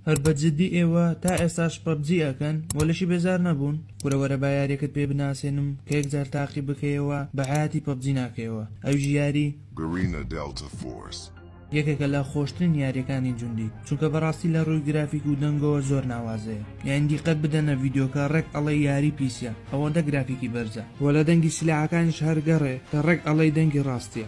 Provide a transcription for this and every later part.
هەر بە جدی ئێوە تا ئێستاش پەبجی ئەکەن وە لەشی بێزار نەبوون کورە وەرە با یاریەکەت پێ بناسێنم کە یەک جار تاقی بکەیەوە بە حەیاتی پەبجی ناکەیەوە ئەویش یاری Garena Delta Force. یەکێکە لە خۆشترین یاریەکانی جوندی چونکە بەڕاستی لە ڕووی گرافیک و دەنگەوە زۆر ناوازەیە یانی دیقەت بدەنە ڤیدیۆکە ڕێک ئەڵێی یاری پیسە ئەوەندە گرافیکی بەرزە وە لە دەنگی سلاحەکانیش هەر گەڕێ کە ڕێک ئەڵێی دەنگی ڕاستیە.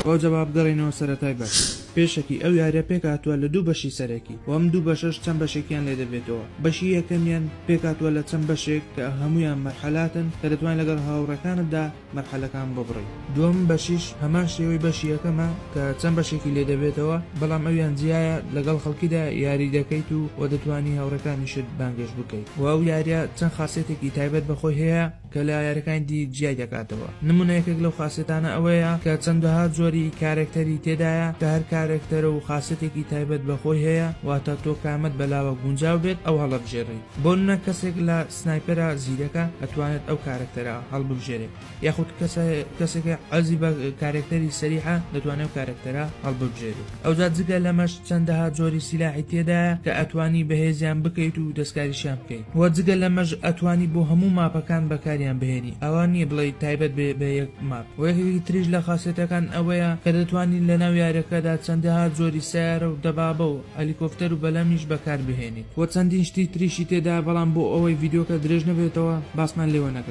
بۆ جەواب گەڕێینەوە سەرەتای بەش. پێشەکی ئەو یاریە پێکهاتووە لە دوو بەشی سەرەکی و ئەم دوو بەشەش چەند بەشێکیان لێ دەبێتەوە، بەشی یەکەمیان پێکهاتووە لە چەند بەشێک کە هەموویان مەرحەلاتن کە دەتوانی لەگەڵ هاوڕێکانتدا مەرحەلەکان ببڕی، دووەم بەشیش هەمان شێوەی بەشی یەکەمە کە چەند بەشێکی لێ دەبێتەوە بەڵام ئەویان جیایە لەگەڵ خەڵکیدا یاری دەکەیت و دەتوانی هاوڕێکانیشت بانگێشت بکەیت و ئەو یاریە چەند خاسیەتێکی تایبەت بە خۆی هەیە، کە لە یاریەکانی دی جیای دەکاتەوە نمونە یەکێک لەو خاسێتانە ئەوەیە کە چەندەها جۆری کارەکتەری تێدایە کە هەر کارەکتەرە و خاسێتێکی تایبەت بە خۆی هەیە واتە تۆ کامەت بە لاوە گونجاو بێت ئەو هەڵەبژێری بۆ نمونە کەسێک لە سنایپەرە زیرەکە ئەتوانێت ئەو کارەکتەرە هەڵببژێرێت یاخود کەسە کەسێکە عەزی بە کارەکتەری سەریحە دەتوانێت کارەکتەرە هەڵببژێرێت. ئەوجا جگە لەمەش چەندەها جۆری سیلاحی تێدایە کە ئەتوانی بەهێزیان بکەیت و دەستکاریشیان بکەیت وە جگە لەمەش ئەتوانی بۆ هەموو ماپەکان بەکاریان بهێنی ئەوا نییە بڵێی تایبەت بێ بە یەک ماپ وە یەکێکی تریش لە خاسێتەکان ئەوەیە کە دەتوانی لەناو یاریەکەدا چەندەها جۆری سەیارە و دەبابە و هەلیکۆفتەر و بەلەمیش بەکاربهێنیت وە چەندین شتی تریشی تێدایە بەڵام بۆ ئەوەی ڤیدیۆکە درێژ نەبێتەوە باسمان لێوە نەکەم.